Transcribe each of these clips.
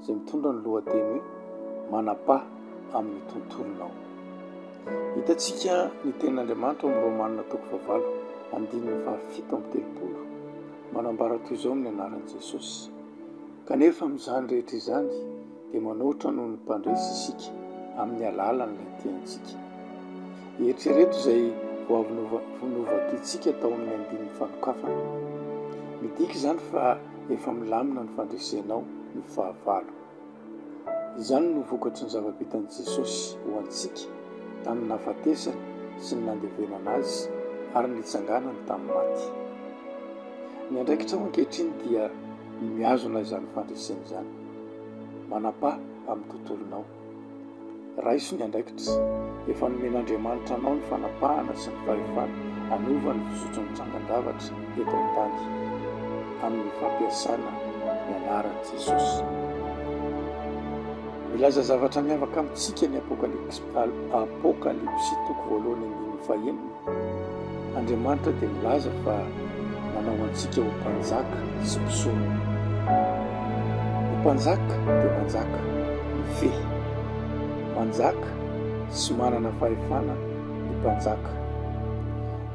izay mitondra ny lohateny hoe Manam-paha amin'ny tontolonao. Hitantsika ny tenin'Andriamanitra ao amin'ny Romana toko fahavalo andininy fahafito amby telopolo manambara toy izao amin'ny anaran'i Jesosy, Kanefa amin'izany rehetra izany dia manoatra noho ny mpandresy isika amin'ny alalan'ilay tiantsika. Eritrereto izay vao avy novadiantsika tao amin'ny andininy fanokafana. Midika izany fa efa milamina ny fandresenao ny fahavalo. Izany no vokatry ny zava-bitan'i Jesosy ho antsika tamin'ny nahafatesany sy ny nandevenana Azy ary ny nitsanganany tamin'ny maty. Ny andraikitrao ankehitriny dia ny mihazona izany fandresena izany. Manam-paha amin'ny tontolonao. Raiso ny andraikitra efa nomen'Andriamanitra anao ny fanapahana sy ny fahefana hanova ny fizotry ny trangan-javatra eto an-tany, amin'ny fampiasana ny anaran'i Jesosy. Milaza zavatra miavaka amintsika ny Apokalypsy toko voalohany andininy fahenina. Andriamanitra dia milaza fa nanao antsika ho mpanjaka sy mpisorona. Ny mpanjaka dia manjaka mifehy. Manjaka sy manana fahefana ny mpanjaka.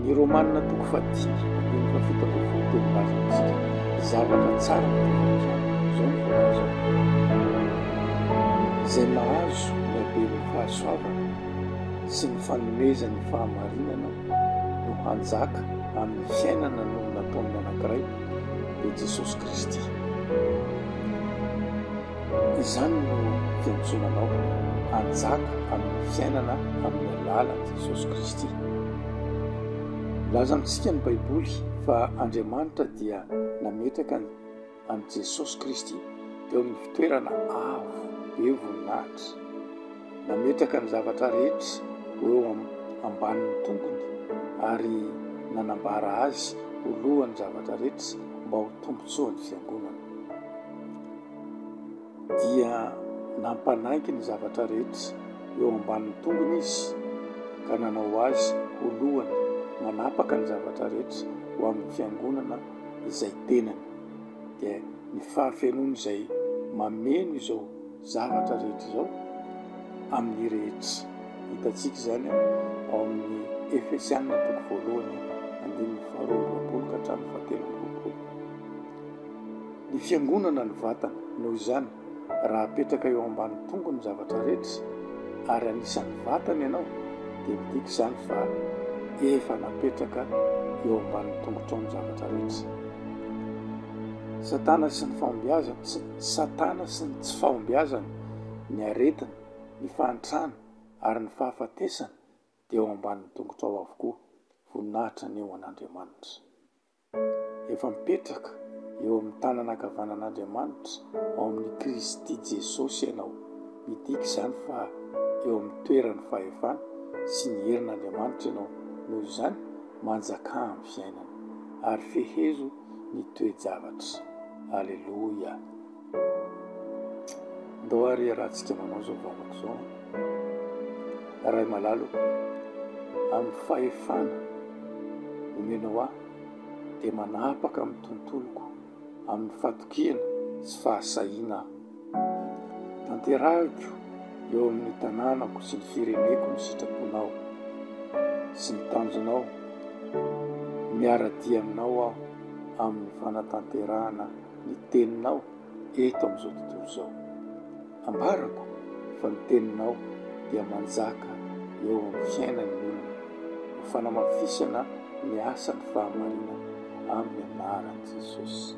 Ny Romanina toko fahadimy andininy fahafito ambin'ny folo dia milaza amintsika zavatra tsara tahaka izao, izao ny voalazany, Izay mahazo ny haben'ny fahasoavana, sy ny fanomezany fahamarinana no hanjaka amin'ny fiainana noho ny nataon'ny anankiray, dia Jesosy Kristy. Izany no fiantsoana anao hanjaka amin'ny fiainana amin'ny alalan'i Jesosy Kristy. Milaza amintsika ny Baiboly fa Andriamanitra dia nametraka ny an'i Jesosy Kristy teo amin'ny fitoerana avo be voninahitra. Nametraka ny zavatra rehetra ho eo ambanin'ny tongony ary nanambara Azy ho lohan'ny zavatra rehetra mba ho tombontsoan'ny Fiangonana. dia nampanaiky ny zavatra rehetra eo ambanin'ny tongony izy, ka nanao azy ho lohany manapaka ny zavatra rehetra ho amin'ny fiangonana izay tenany, dia ny fahafenoany izay mameno izao zavatra rehetra izao amin'ny rehetra. Hitantsika izany ao amin'ny Efesiana toko voalohany andininy faharoa amby roapolo ka hatramin'ny fahatelo amby roapolo. Ny fiangonana ny vatany, noho izany, raha apetraka eo ambany tongo ny zavatra rehetra, ary anisan'ny vatany ianao, dia midika izany fa efa napetraka eo ambanin'ny tongotrao ny zavatra rehetra. Satana sy ny fahombiazany, Satana sy ny tsy fahombiazany, ny aretiny, ny fahantrany, ary ny fahafatesany dia eo ambanin'ny tongotrao avokoa. Voninahitra ny ho an'Andriamanitra. Efa mipetraka eo amin'ny tanana ankavanan'Andriamanitra ao amin'i Kristy Jesosy ianao. Midika izany fa eo amin'ny toeran'ny fahefana sy ny herin'Andriamanitra ianao. Noho izany, manjakà amin'ny fiainana, ary fehezo ny toe-javatra. Aleloia! Ndao ary iarahantsika manao izao vavaka izao. Ray malalo, amin'ny fahefana omenao ahy dia manapaka amin'ny tontoloko amin'ny fatokiana sy fahasahiana aho. Tanterahiko eo amin'ny tanànako sy ny fireneko ny sitraponao sy ny tanjonao. Miara-dia aminao aho amin'ny fanatanterahana. ny Teninao eto amin'izao tontolo izao. Ambarako fa ny Teninao dia manjaka eo amin'ny fiainan'ny olona, ho fanamafisana ny asan'ny fahamarinana, amin'ny anaran'i Jesosy.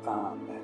Amen.